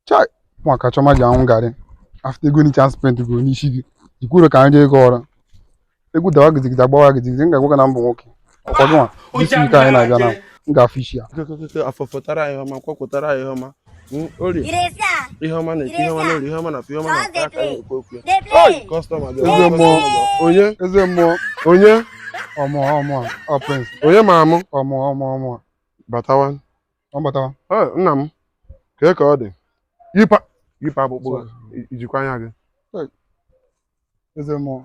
chai maka Chioma ji aṅụ garri after ego ncha m spend go n'isi gị i kwuru ka anyị jee gị ọrụ egwu dawa gizigida gbawa gizigida m ga-agwa gị na mbụ nwoke ọkwa gị nwa isi nke anyị na-abịa na m ga-afụ isi ya afọfọtara ihe ọma kwakwụtara ihe ọma ori ihe ọma na-eti ihe ọma na-eri ihe ọma na afọ ihe ọma na-ata aka na-ekwu okwu ya kọstọma bịa eze mmụọ onye eze mmụọ onye ọ mụ ọ mụ ọ Prince onye ma ọ mụ ọ mụ ọ mụ ọ mụ batawa M batawa. Ee, nna m kee ka ọ dị yipụ yipụ akpụkpọ gị, i- i jikwa anya gị Eze mmụọ.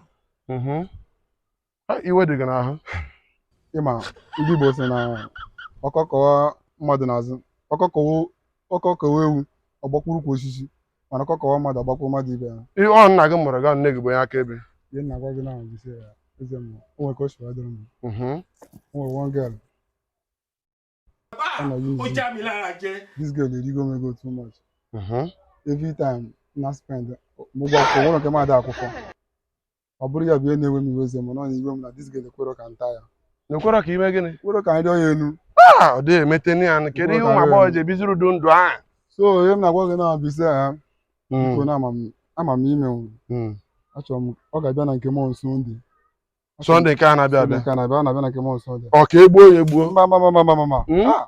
Mhm. Ha, iwe dị gị n'ahụ Ị ma ndị Igbo sị na ọkọ kọwa mmadụ n'azụ. Ọkọ kọwa ọkọ kọwa ewu ọ gbakwuru ukwu osisi. Mana ọkọ kọwa mmadụ ọ gbakwuru mmadụ ibe ya. Ihe ọ nna gị mụrụ gị ọ nne gị bụ onye akaebe Ihe m na-agwa gị na gị sị ya eze mmụọ. O nwere ka o si wee dịrị m. Mhm. O nwere one girl Ah, this girl erigo m ego too much. Mhm. Every time na spend mo gba akwụkwọ ụlọ nke m ada akwụkwọ. Ọ bụrụ ya bụ ihe na-ewe m iwe eze mmụọ iwe m na this girl ekwero ka m taa ya. O kwero ka i mee gịnị? O kwero ka m rịa ya elu. Ah, ọ dịghị emete ni ya. Kedu ihe ụmụ agbọghọ ji ebiziri ụdị ndụ ahụ? So ihe m na-agwa gị na bụ ise ha. Biko Mm, na ama m ama m ime nwụrụ. mm. Achọrọ m ọ ga-abịa na nke m on Sunday. Sunday nke a na-abịa abịa nke a na-abịa na-abịa na nke m on Sunday ọ ka e gbuo ya egbuo mba mba mba mba mba hmm? ah!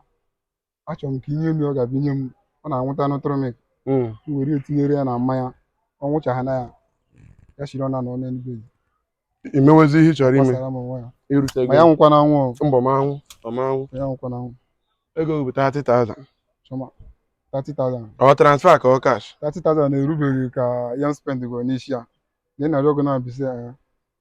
achọrọ m ka i nye m ihe ọ ga-abụ i nye m ọ na-anwụta n'ụtụrụ m hmm. were tinyere ya na mmanya ọ ṅụcha ya na ya ya chiri ọ na nọ n'eluigwe i mewezi ihe ị chọrọ ime ma ya anwụkwana anwụ mba ọ ma anwụ ọ ma anwụ ya anwụkwana anwụ ego bụ 30,000 30,000 ọ transfer ka ọ cash 30,000 na-erubeghị ka ihe m spend go n'isi ya na ị na-arịọ ọgụ na-abịsị ya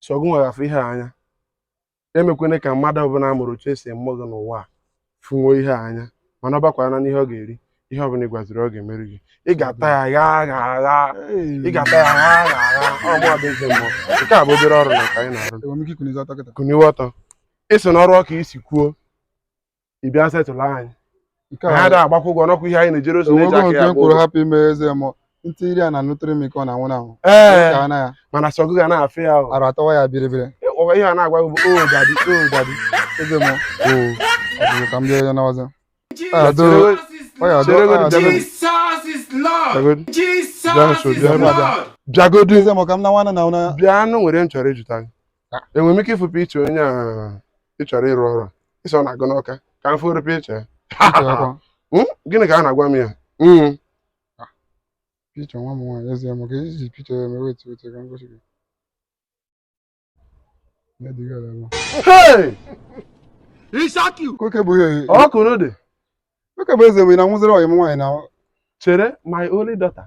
sọ gị nwa ga-afụ ihe a anya emekwana ka mmadụ ọbụla a mụrụ otu e si mụ gị n'ụwa a fụnwuo ihe a anya mana ọ bakwara na n'ihe ọ ga-eri ihe ọbụla ị gwaziri ọ ga-emere gị ị ga-ata ya gha agha agha ị ga-ata ya gha agha agha ọ mụ abụ eze mmụọ nke a bụ obere ọrụ na ka anyị na-arụ Enwere m ike ikunizi ọtọ kịta? kuniwe ọtọ ị sị na ọrụ ọ ka i si kwuo ị bịa setụlụ anyị Nke anyị a ada agbakwa ụgwọ nọkwa ihe anyị na-ejere ozi na-eji enwego aka nke ya m kwuru gboo hapụ ime eze mmụọ ntị iri a na nụtụrụ m ike ọ na-anwụ na anwụ ee ka ana ya mana sọ gị ga na-afụ ya o. arụ atawa ya biribiri Ọ- ihe a na-agwa gị bụ o dadi o dadi eze mmụọ o ọ bụrụ ka m bịa ya n'ọzọ Ado, ọ ya ado, ọ ya ado. Chere godu, Jesus is Lord. Chere- Jesus is Lord. Bịa nso, bịa nso. bịagodu eze mmụọ ka m na nwana na ụna bịanụ o nwere ihe m chọrọ ịjụta gị enwere m ike ịfụ picture onye a ị chọrọ ịrụ ọrụ ị sị ọ na-agụ n'Ọka ka m fụrụ picture ya Hmm? gịnị ka a na-agwa m ya Hmm. picture nwa m nwaanyị ezi ya maka iji picture ya mewe etu otu ka m gosi gị na-ediga ya ebe Hey! oke bụ ihe ọ kụrụ dị oke bụ eze mgbe na nwụziri ọyị m nwaanyị na chere my only daughter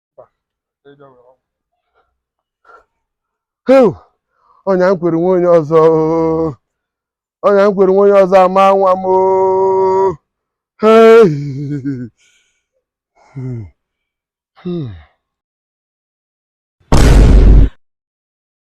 ọnya m kwere nwa onye ọzọ ọnya m kwere nwa onye ọzọ ama nwa m Hmm.